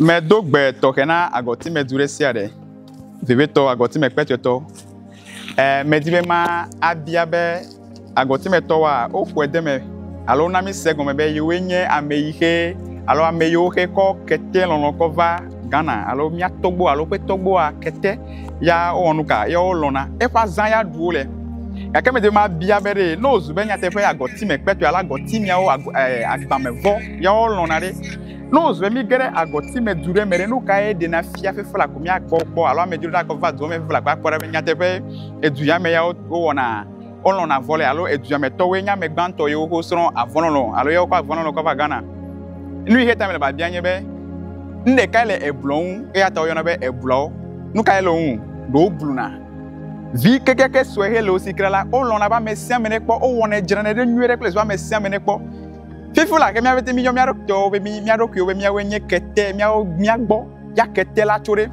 Medo gbe tɔxɛ na agɔtimedu ɖe sia ɖe, vevietɔ agɔtimekpɛtɔetɔ. E, medi be ma abia be agɔtimetɔwoa, woƒoe de eme alo wona mi se gɔme be yewoe nye ame yi xe alo ame yiwo xe kɔ kete lɔlɔ kɔ va Ghana alo mía tɔgbu alo ƒe tɔgbua kete ya wowɔ nu ka ya wolɔ̃na eƒe azã ya ɖu wole. Gake medi be ma abia be ɖe ne wòzu be nyateƒe agɔtimekpɛtɔe alo agɔtimiawo, e, agbamevɔ ya wolɔ̃na ɖe. Ne wòzɔe míge ɖe agɔti me du ɖe me ɖe, nu kae ɖena fia fefla ko míakpɔ kpɔ alo amedzro ɖe agɔ va dua me fefla ko akpɔ ɖa be nyateƒe edu ya me yawo wowɔna wolɔ̃na avɔ le alo edua me tɔwoe nye ame gbãtɔ yiwo ko srɔ̃ avɔlɔlɔ alo yawo kɔ avɔlɔlɔ kɔ va Ghana? Nu yi xe ta mele biabia nye be nu ɖekae le eblɔ ŋu eya ta woyɔna be eblɔwo. Nu kae le wo ŋu? Ɖe wobluna vi kekeake sue hele wo si kra la, wolɔ̃na be ame sia ame nekpɔ, wowɔnɛ, dzranɛ ɖe nyuie ɖe kple zi be ame sia ame nekpɔ. Fifi la ke mía ƒete míyɔ mía ɖokuiwo be mía ɖokuiwo be míawoe nye kete, míawo mía gbɔ ya kete la tso ɖe.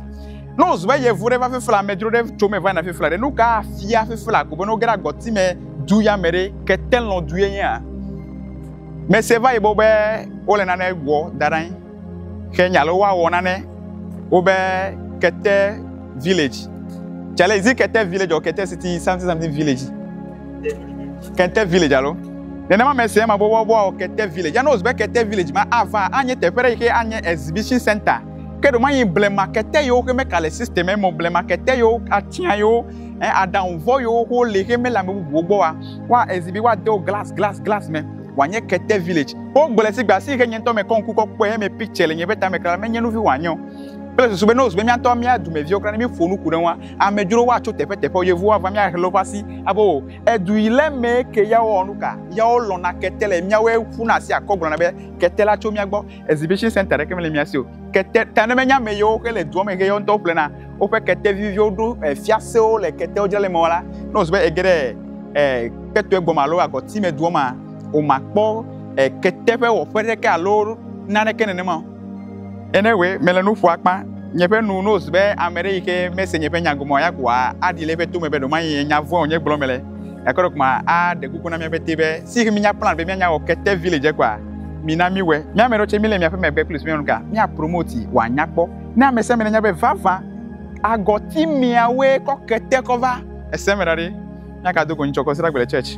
Ne wòzu be yevu ɖe va fifi la, amedzro ɖe tso me va yina fifi la ɖe, nu ka afia fifi la ko be ne woge ɖe agɔti me du ya me ɖe, ketelɔdue nyea? Mese va yi gbɔ be wole nane wɔ da ɖe anyi. Ke nya lɔ woawɔ nane wo be kete village. Cale izi kete village or kete city something something village. Kete village alo. Nenema me se ma bobo boa kete village. Ya knows be kete village ma ava anye teƒe ɖe yike anye exhibition center. Ke ɖo manyi blema kete yewo ke meka le system emo blema kete yewo atia yewo eh aɖaŋu vɔ yewo ko le ke mele ame bubuwo gbɔ wa wa exhibi wa dewo glass glass glass me. wòanye kete village. Wogblɔe si gbe si ke nye ŋutɔ mekɔ ŋku kɔ kpɔe heme picture le nye ƒe tame kra menye nuvi wòanye o. Kple susu be ne wozu be mía ŋutɔ mía dumeviwo kra ne míeƒo nu ku ɖe ŋua, amedzrowo atso teƒe teƒewo, yevuwo ava mía xexlẽwo ƒe asi abe o, edu yi le mee ke yawo wɔwɔ nuka? Yawo lɔ̃na kete le míawoe ƒuna asi akɔ gblɔna be kete la tso mía gbɔ. exhibition center ɖeke mele mía si o kete ta ne menye ame yewo ke le dua me ke yewo ŋutɔ ƒlena woƒe kete viviwo ɖo eh, fiasewo le ketewo dzra le mɔ la ne wòzu be ege ɖe eh, ketoe gbɔme alo agɔti me dua ma womakpɔ eh, kete ƒe wɔƒe ɖeke alo naneke nenema o ene wòe mele nu ƒo akpa nye ƒe nu ne wòzu be ame ɖe yi ke mese nye ƒe nya gɔme o ya ko aɖi le eƒe to me be ɖewomaye nya vɔ̃e wònye gblɔm mele Gake ɖeko ma aɖe kuku na mía ƒete be si ɣi mínya plan be míanya wɔ kete village kɔa, mina míwɔe. Mía ame ɖewo tse míle miaƒe megbe kple sumianu ka mía promote wòanya kpɔ. Ne ame sia ame nanya be vavã agɔti miawoe kɔ kete kɔ va. Ese me ɖa ɖe, míagado go ŋtsɔ kɔ sragbe le church.